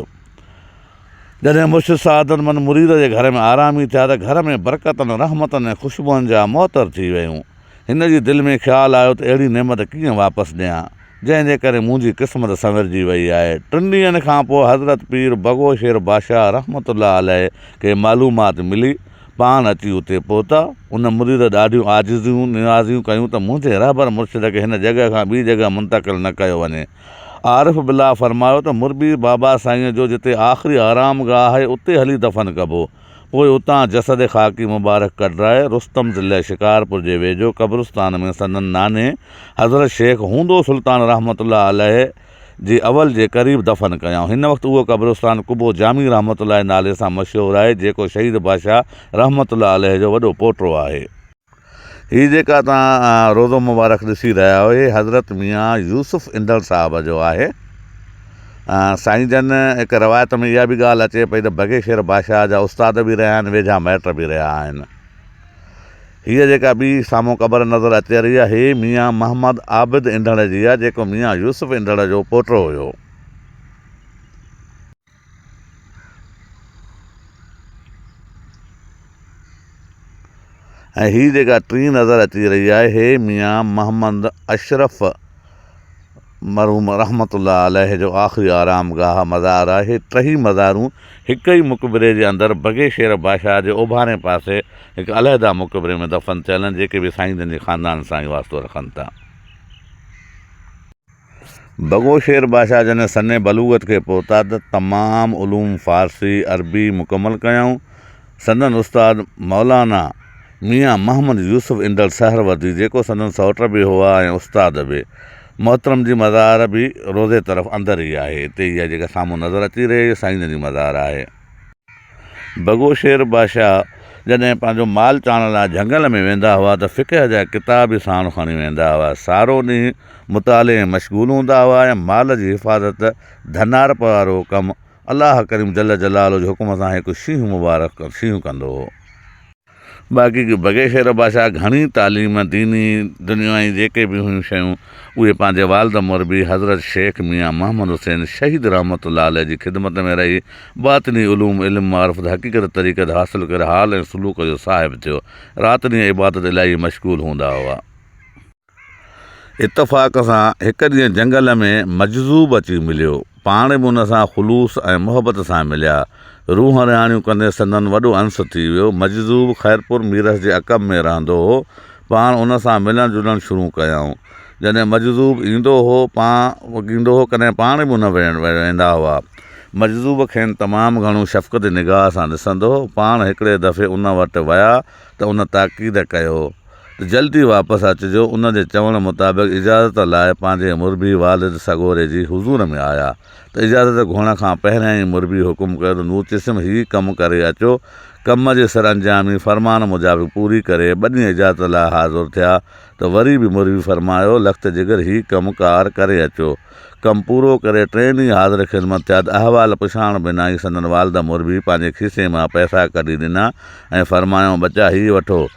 A: جڏهن مرشد سعادت مند مريد جي گهر ۾ آرامي ٿيا ته گهر ۾ برڪتن رحمتن ۽ خوشبوئن جا معطر ٿي ويون. هن جي دل ۾ خيال آيو ته اهڙي نعمت ڪيئن واپس ڏيان، جنهن جي ڪري منهنجي قسمت سنورجي وئي آهي. ٽن ڏينهن کان پوء حضرت پير بگو شير بادشاهه رحمة الله عليه کي معلومات ملي، پاڻ اچي اتي پهتا. ان مريد ڏاڍيون عاجزيون، نيازيون ڪيون ته منهنجي رهبر مرشد کي هن جڳهه کان ٻي جڳهه منتقل نه ڪيو وڃي. عارف بالله فرمايو ته مربي بابا سائينء جو جتي آخري آرام گاهه آهي، اتي هلي دفن ڪبو. پوء اتان جسد خاڪي مبارڪ ڪڍرائي رستم ضلعي شڪارپور جي ويجهو قبرستان ۾ سندن نانهي حضرت شيخ هوندو سلطان رحمة الله عليه جي اول جي قريب دفن ڪيائون. هن وقت اهو قبرستان قبو جامي رحمة الله جي نالي سان مشهور آهي جيڪو شهيد بادشاهه رحمة الله عليه جو وڏو پوٽو آهي. هي جيڪا توهان روضو مبارڪ ڏسي رهيا آهيو هي حضرت ميان يوسف اندڙ صاحب جو آهي. سائين جن هڪ روايت ۾ اها به ڳالهه اچي پئي ته بگي شير بادشاهه جا استاد به رهيا آهن ويجها مائٽ به رهيا آهن. هيء جيڪا ٻي سامهون قبر نظر اچي رهي آهي هي ميان محمد عابد اندڙ جي آهي جيڪو ميان يوسف اندڙ جو پوٽو هيو. ۽ هي جيڪا ٽين نظر اچي رهي آهي هي ميان محمد اشرف مرحوم رحمت الله عليه جو آخري آرام گاهه مزار آهي. ٽهي مزارون هڪ ئي مقبري جي اندر بگي شير بادشاهه جي اوڀارئين پاسي هڪ علحده مقبري ۾ دفن ٿيل آهن جيڪي به سائين جن جي خاندان سان ئي واسطو رکن ٿا. بگهو شير بادشاهه جڏهن سنّ بلوغت کي پهتا ته تمام علوم فارسي، عربي مڪمل ڪيائون. سندن استاد مولانا ميان محمد يوسف اندڙ سهروردي جيڪو سندن سئوٽ به هئا ۽ استاد به. محترم جي مزار به روضي طرف اندر ئي آهي. هتي اها جيڪا سامهون نظر اچي رهي اهو سائين جن جي مزار آهي. بگو شير بادشاهه جڏهن پنهنجو مال چاڻڻ لاء جهنگل ۾ ويندا هئا ته فقه جا ڪتاب به ساڻ کڻي ويندا هئا. سارو ڏينهن مطالعي ۾ مشغول هوندا هئا ۽ مال جي حفاظت، ڌنارپ وارو ڪم، الله ڪريم جل جلاله جي حڪم سان هڪ شينهن مبارڪ شينهن ڪندو هو. باقي ڪي بگي شير بادشاهه گهڻي تعليم، ديني، دنيوائي جيڪي به هيون شيون اهي پنهنجي والد مربي حضرت شيخ ميان محمد حسين شهيد رحمة الله عليه جي خدمت ۾ رهي باطني علوم، علم معرفت، حقيقت طريقت حاصل ڪري حال ۽ سلوڪ جو صاحب ٿيو. رات ڏينهن عبادت الٰهي ۾ مشغول هوندا هئا. اتفاق سان هڪ ڏينهن جنگل ۾ مجذوب اچي مليو. پاڻ به ان سان خلوص ۽ محبت سان مليا. روح رهاڻيون ڪندي سندن وڏو انس ٿي ويو. مجذوب خيرپور ميرس جي عقب ۾ رهندو هو. پاڻ ان سان ملڻ جلڻ شروع ڪيائون. جڏهن مجذوب ايندو هو پاڻ ايندو هو ڪڏهن پاڻ به ان وٽ ويندا هئا. مجذوب کين تمام گهڻو شفقتي نگاهه سان ڏسندو هو. پاڻ هڪڙي دفعي ان وٽ ويا ته ان تاڪيد ڪيو. ته جلد ئي واپس اچجو. ان جي چوڻ مطابق اجازت لاء پنهنجي مربي والد سڳوري جي حضور ۾ آيا ته اجازت گهڻ کان پهريان ئي مربي حڪم ڪيو ته نور چشم هي ڪم ڪري اچو. ڪم جي سرانجامي فرمان مجابق پوري ڪري ٻنهي اجازت لاء حاضر ٿيا ته وري به مربي فرمايو لخت جگر هي ڪم ڪار ڪري اچو. ڪم پورو ڪري ٽئين ڏينهن حاضر خدمت ٿيا ته احوال پڇائڻ بنا ئي سندن والد مربي پنهنجي کيسي مان پئسا ڪڍي ڏنا ۽ فرمايائون ٻچا هي وٺو.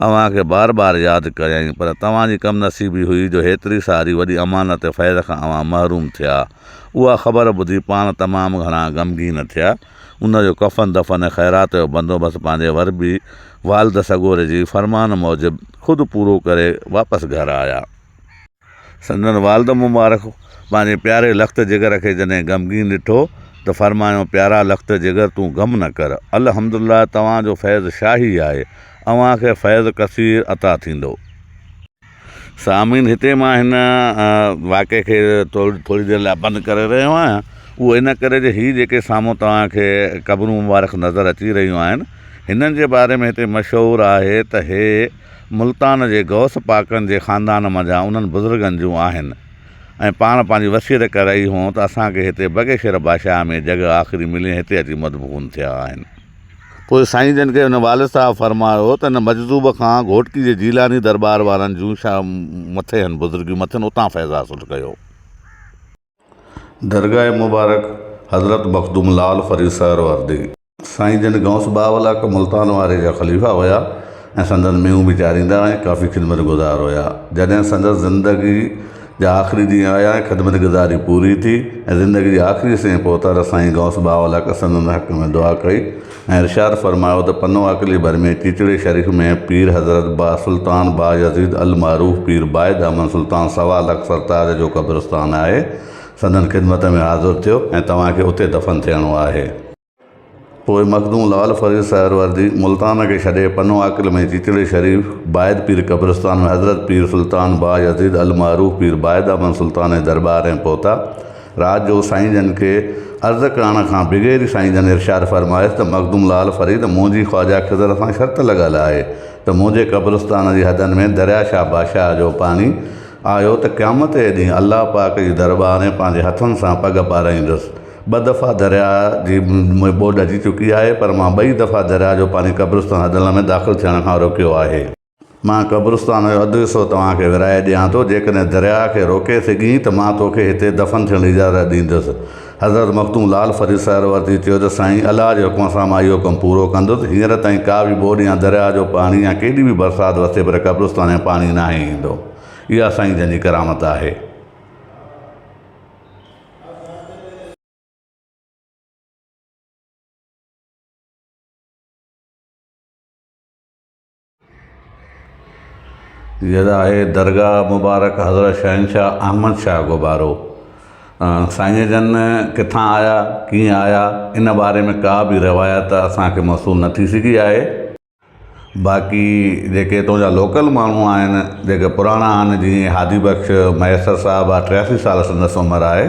A: اوهان کي بار بار ياد ڪريائين، پر توهان جي ڪم نصيبي هئي جو هيتري ساري وڏي امانت خير کان اوهان محروم ٿيا. اها خبر ٻڌي پاڻ تمام گهڻا غمگين ٿيا. ان جو ڪفن دفن ۽ خيرات جو بندوبست پنهنجي وربي والد سڳوري جي فرمان موجب خود پورو ڪري واپس گهر آيا. سندن والد مبارڪ پنهنجي پياري لخت جگر کي جڏهن غمگين ڏٺو ته فرمايائون پيارا لخت جگر تون غم نه ڪر الحمدلله توهان جو فيض شاهي آهي اوهان کي فيض ڪثير عطا ٿيندو. سامعين هتي مان هن واقعي کي ٿوري دير لاء بند ڪري رهيو آهيان اهو ان ڪري جو هي جيڪي سامهون توهان کي قبرون مبارڪ نظر اچي رهيون آهن هنن جي باري ۾ هتي مشهور آهي ته هي ملتان جي غوث پاڪن جي خاندان منجهان انهن بزرگن جون آهن ۽ پاڻ پنهنجي وصيت ڪري رهي هئون ته اسان کي هتي بگي شير باشاهه ۾ جڳهه آخري ملي ۽ هتي اچي مدفون ٿيا آهن. پوء سائين جن کي هن والد صاحب فرمايو ته هن مجذوب کان گهوٽڪي جي جيلاني درٻار وارن جون شا مٿي هن بزرگيون مٿين اتان فيض حاصل ڪيو. درگاهه مبارڪ حضرت مخدوم لعل فريد سهروردي. سائين جن غوث باولاڪ ملتان واري جا خليفا هيا ۽ سندن مينهون به چاريندا ۽ ڪافي خدمت گذار هيا. جڏهن سندس زندگي جا آخري ڏينهن آيا ۽ خدمت گذاري پوري ٿي ۽ زندگي جي آخري سين پهتا ته سائين غوث باولاڪ سندن حق ۾ دعا ڪئي. ۽ ارشاد فرمايو ته پنو عاقلي ڀر ۾ چيچڙي شريف ۾ پير حضرت با سلطان با يزيد المعروف پير بايد احمد سلطان سوا لک سرتاج جو قبرستان آهي سندن خدمت ۾ حاضر ٿيو ۽ توهان کي اتي دفن ٿيڻو آهي. پوء مخدوم لعل فريد سهروردي ملتان کي ڇڏي پنو عاقل ۾ چيچڙي شريف بايد پير قبرستان ۾ حضرت پير سلطان با يزيد المعروف پير بايد احمد سلطان جي درٻار ۾ پهتا. رات جو سائين جن کي عرض ڪرڻ کان بغير ئي سائين جن ارشاد فرمايس ته مخدوم لعل فريد منهنجي خواجه خضر سان شرط لڳل آهي ته منهنجي قبرستان جي حدن ۾ دريا شاهه باشاهه جو پاڻي آيو ته قيامت جي ڏينهن الله پاڪ جي درٻار ۾ پنهنجي هٿن سان پڳ پارائيندس ٻه دفعا دريا جي ۾ ٻوڏ اچي چڪي آهي پر مان ٻئي دفعا دريا جو پاڻي قبرستان حدن ۾ داخل ٿيڻ کان روڪيو آهي. مان قبرستان جو اڌ حصو توهان کي ورهائي ڏيان ٿو، جيڪڏهن درياهه کي روڪي سگهين ته مان توکي هتي دفن ٿيڻ جي اجازت ڏيندس. حضرت مخدوم لعل فريد سهروردي چيو ته سائين! الله جي حڪم سان مان اهو ڪم پورو ڪندس. هينئر تائين ڪا به ٻوڏ يا درياهه جو پاڻي يا ڪيڏي به برسات وسي پر قبرستان ۾ پاڻي ناهي ايندو. اها سائين جن جي ڪرامت آهي. جيئن ته آهي درگاهه مبارڪ حضرت شهنشاهه احمد شاهه گهوٻارو سائين جن ڪٿان آيا ڪيئن آيا ان باري ۾ ڪا به روايت اسانکي موصول نه ٿي سگهي آهي باقي جيڪي اتو جا لوڪل ماڻهو آهن جيڪي پراڻا آهن جيئن هادي بخش مهيسر صاحب آهي ٽياسي سال سندس عمر آهي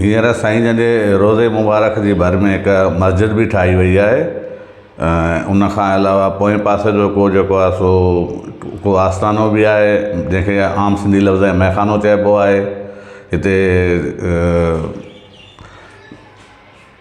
A: ھينئر سائين جن جي روضي مبارڪ جي ڀر ۾ ھڪ مسجد به ٺاھي وئي آھي ۽ ان کان علاوه پوئين پاسي جو ڪو جيڪو آھي سو ڪو آستانو به آھي جنھن کي عام سنڌي لفظ ۾ مئيخانو چئبو آھي ھتي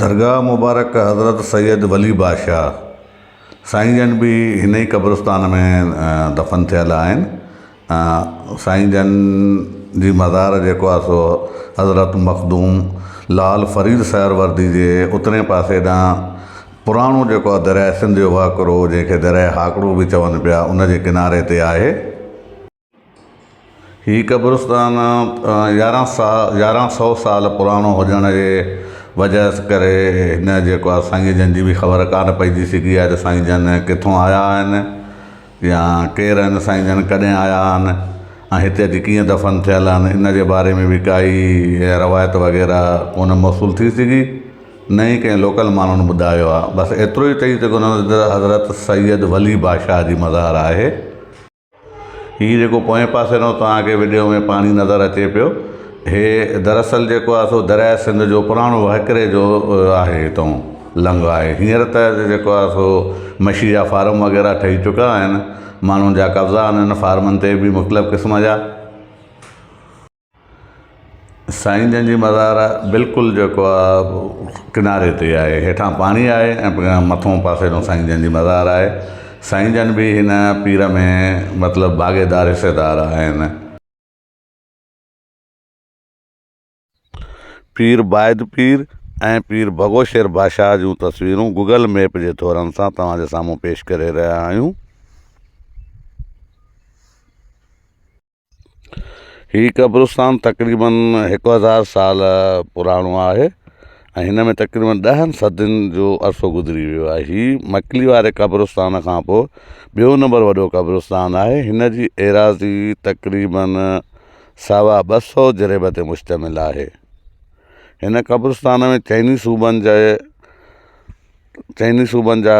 A: درگاهه مبارڪ حضرت سيد ولي بادشاهه سائين جن به هن ئي قبرستان ۾ دفن ٿيل آهن سائين جن جي مزار جيڪو آهي سو حضرت مخدوم لال فريد سهروردي جي اترئين پاسي ڏانهن پراڻو جيڪو آهي درياهه سنڌ جو وهڪرو جنهن کي درياهه هاڪڙو به چون پيا ان جي ڪناري تي آهي. هي قبرستان يارهن سا يارهن سو سال پراڻو هجڻ جي وجهه ڪري هن جيڪو آهي سائين جن جي به خبر ڪانه پئجي سگهي آهي ته سائين جن ڪٿون آيا آهن. يا ڪير آهن سائين جن ڪڏهن آيا آهن ۽ هتي اچي ڪيئن دفن ٿيل آهن ان جي باري ۾ به ڪائي روايت وغيره ڪونه موصول ٿي سگهي نه ئي ڪنهن لوڪل ماڻهن ٻڌايو آهي بس ايترو ئي چئي سگهون ٿا ته حضرت سيد ولي بادشاهه جي مزار آهي هي جيڪو پوئين پاسي نو توهان کي وڊيو ۾ پاڻي نظر اچي پيو هي دراصل جيڪو آهي سو درياء سنڌ جو پراڻو وهڪري جو آهي هتو لنگهه آهي هينئر ته جيڪو آهي سو مڇي جا فارم وغيره ٺهي چڪا آهن ماڻهن جا قبضا آهن ان فارمن تي به مختلف قسم جا سائين جن جي مزار بلڪل جيڪو آهي ڪناري تي آهي هيٺان پاڻي آهي ۽ مٿو پاسي ڏو سائين جن جي مزار آهي سائين جن به هن پير ۾ مطلب ڀاڳيدار حصيدار آهن پير بايد پير ۽ پير ڀڳو شير بادشاهه جون تصويرون گوگل ميپ جي ٿورن سان توهان جي سامهون پيش ڪري رهيا آهيون. هي قبرستان تقريباً هڪ هزار سال پراڻو آهي ۽ هن ۾ تقريباً ڏهن صدين جو عرصو گذري ويو آهي. هي مڪلي واري قبرستان کان پوء ٻيو نمبر وڏو قبرستان آهي. هن جي ايراضي تقريباً سوا ٻه سؤ جريب تي مشتمل آهي. هن قبرستان ۾ چئني صوبن جي چئني صوبن جا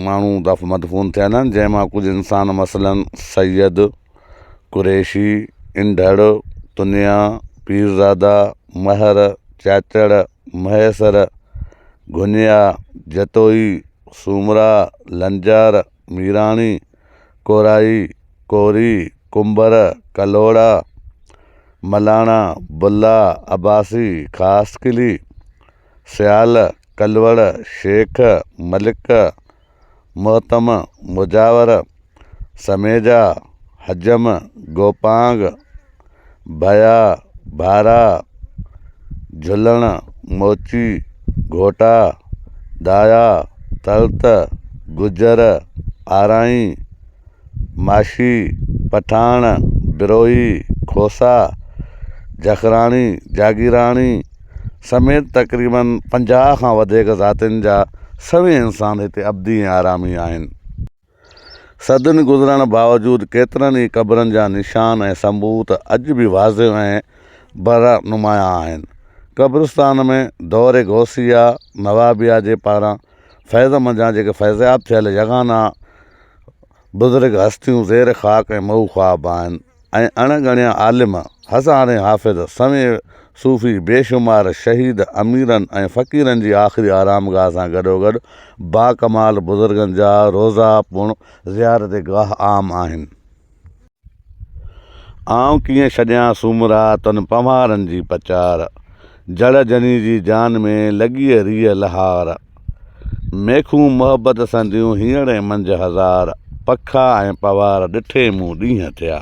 A: ماڻهو مدفون ٿيل آهن جنهن مان ڪجهه انسان مثلاً سيد، قريشي، انڍڙ، تنيا، پيرزاده، مهر، چاچڙ، مهيسر، گهنيا، جتوئي، سومرا، لنجار، ميراڻي، ڪورائي، ڪوري، ڪنڀر، ڪلهوڙا، ملاڻا، بلا، عباسي، خاصخيلي، سيال، ڪلوڙ، شيخ، ملڪ، مهتم، مجاور، سميجا، حجم، گوپانگ، ڀيا، ڀارا، جهلڻ، موچي، گهوٽا، دايا، تلت، گجر، آرائين، ماشي، پٺاڻ، بروهي، کوسا، جکراڻي، جاگيراڻي سميت تقريباً پنجاهه کان وڌيڪ ذاتين جا سوين انسان هتي ابدي ۽ آرامي آهن. صدين گذرڻ باوجود ڪيترن ئي قبرن جا نشان ۽ ثبوت اڄ به واضح ۽ برا نمايان آهن. قبرستان ۾ دور غوثيه، نوابيه جي پاران فيض منجهان جيڪي فيضياب ٿيل يگانا بزرگ هستيون زير خاڪ ۽ مئو خواب آهن. ۽ اڻ ڳڻيا عالم، هزارين حافظ، سوين صوفي، بي شمار شهيد، اميرن ۽ فقيرن جي آخري آرامگاهه سان گڏوگڏ باڪمال بزرگن جا روضا پڻ زيارت گاهه عام آهن. آئون ڪيئن ڇڏيان سومرا تن پنهوارن جي پچار، جڙ جني جي جان ۾ لڳيئي ريء لهار. ميخون محبت سنديون هينئڙ ۽ منجهه هزار پکا ۽ پوار ڏٺي مون ڏينهن ٿيا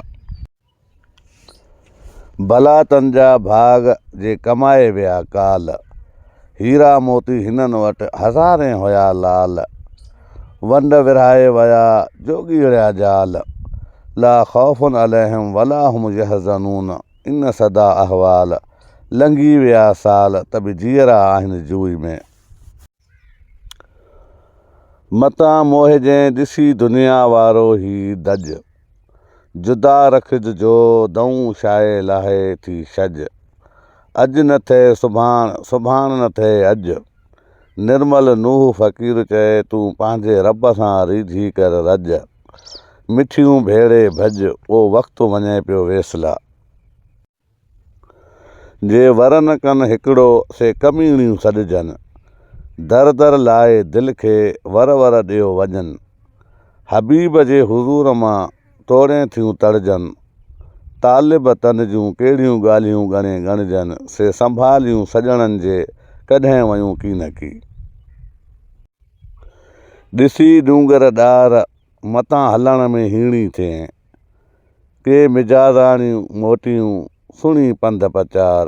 A: ڀلا تن جا ڀاڳ جي ڪمائي ويا ڪال هيرا موتي هنن وٽ هزارين هيا لال ونڊ ورهائي ويا جوڳي رهيا جال لا خوف عليهم ولا هم يحزنون ان سدا احوال لنگهي ويا سال ته به جيئرا آهن جوئي ۾ متان موهجين ڏسي دنيا وارو هي دج، جدا رکج جو دئون شاهي لاهي ٿي شج. اڄ نه ٿئي سڀاڻ، سڀاڻ نه ٿئي اڄ. نرمل نوح فقير چئي تون پنهنجي رب سان ريجهي ڪر رڄ. مٺيون ڀيڙي ڀڄ او وقت وڃي پيو ويسلا. جي ورن ڪن هڪڙو سي ڪميڻيون سڏجن. در در لائي دل کي ور ور ڏيو وڃن. حبيب جي حضور مان توڙين ٿيون تڙجن. طالب تن جون ڪهڙيون ڳالهيون ڳڻي ڳڻجن سي سنڀاليون سڄڻن جي ڪڏهن ويون ڪينڪي. ڏسي ڏونگر ڏار متان هلڻ ۾ هيڻي ٿئين. ڪي مجازاڻيون موٽيون سڻي پنڌ پچار،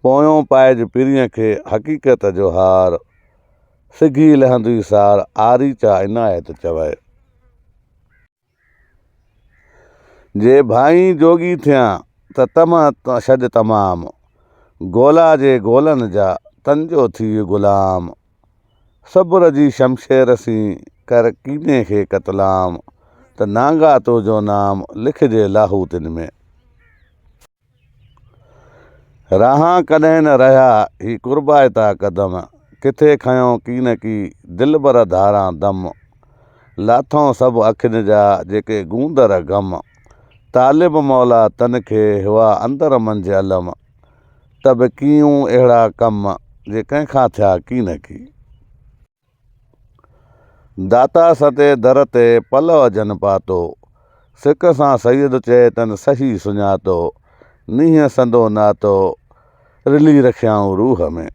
A: پويون پائج پرينء کي حقيقت جو هار، سگهي لهندي سار آريچا عنايت چوي. جي ڀائين جوڳي ٿيان ته طمع ڇڏ تمام، گولا جي گولن جا تنجو ٿيء غلام. صبر جي شمشير سين ڪر ڪيني کي قتلام ته نانگا تو جو نام لکجي لاهوتين ۾. راهان ڪڏهن نه رهيا هي قربائتا قدم ڪٿي کنيو ڪين ڪي دلبر ڌاران دم لاٿئون سڀ اکين جا جيڪي گوندر غم طالب مولا تن کي هئا اندر منجهه علم ته به ڪيئون اهڙا ڪم جي ڪنهن کان ٿيا ڪي نه ڪي. داتا ستي در تي پلئه جن پاتو، سڪ سان سيد چئي تن صحيح سڃاتو، نينهن سندو ناتو رلي رکيائون روح ۾.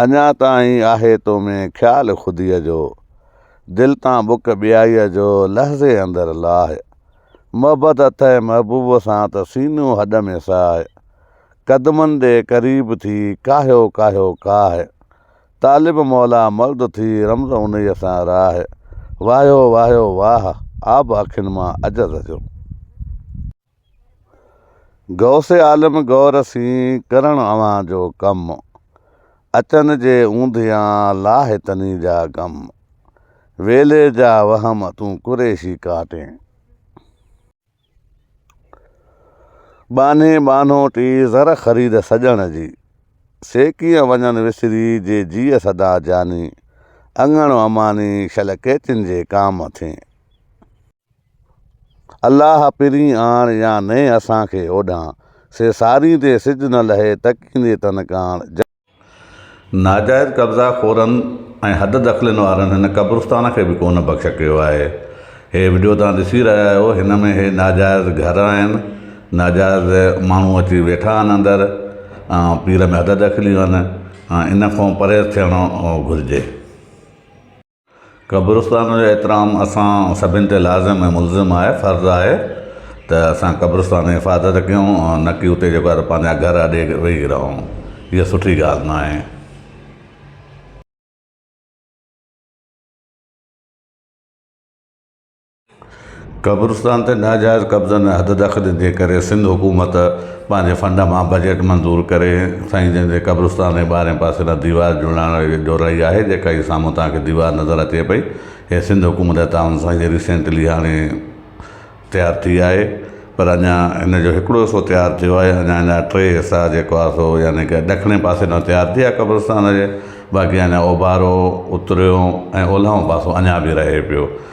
A: اڃا تائين آهي تو ۾ خيال خوديء جو، دل تان بک ٻيائيء جو لحظي اندر لاء، محبت اٿئي محبوب سان ته سينو هڏ ۾ ساء، قدمن ڏي قريب ٿي ڪاهيو ڪاهيو ڪاهه، طالب مولا مرد ٿي رمز انهيء سان راهه، واهيو واهيو واهه، آب اکين مان عجز جو. غوث عالم غور سين ڪرڻ اوهان جو ڪم، اچن جي اوندهيان لاهه تني جا غم، ويلي جا وهم تون قريشي ڪاٽين. ٻانهين ٻانهوٽي زر خريد سڄڻ جي، سي ڪيئن وڃن وسري جي جيء سدا جاني، اڱڻ اماني شل ڪيچين جي ڪام ٿين. الله پرين آڻ يا نئين اسان کي اوڏان. سي سارين تي سج نه لهي تڪيندي تن ڪاڻ. جنهن. ناجائز قبضا خورن ۽ حد دخلين وارن هن قبرستان کي به ڪونه بخش ڪيو آهي. هي وڊيو توهان ڏسي رهيا آهيو هن ۾ هي ناجائز گهر آهن ناجائز ماڻهو اچي ويٺا آهن اندر ۽ پير ۾ حد دخليون آهن ان کان پرهيز ٿيڻو گهرجي. قبرستان جو احترام اسان سڀن تي لازم ۽ ملزم آهي، فرض آهي ته اسان قبرستان جي حفاظت ڪيون نه ڪي اتي جيڪو آهي ته پنهنجا گهر اڏي ويهي رهون. اها سٺي ڳالهه ناهي. قبرستان تي ناجائز قبضن ۽ حد دخلين جي ڪري سنڌ حڪومت پنهنجي فنڊ مان بجيٽ منظور ڪري سائين جن جي قبرستان جي ٻاهرين پاسي ڏانهن ديوار جوڙائڻ جو رهي آهي جيڪا هي سامهون توهان کي ديوار نظر اچي پئي هي سنڌ حڪومت جي تعاون سان هي ريسينٽلي هاڻي تيار ٿي آهي پر اڃا هن جو هڪڙو حصو تيار ٿيو آهي اڃا هن جا ٽي حصا جيڪو آهي سو يعني ڪه ڏکڻي پاسي ڏانهن تيار ٿي آهي قبرستان جي باقي اڃا اوڀارو اتريون ۽ اولهون پاسو اڃا به رهي پيو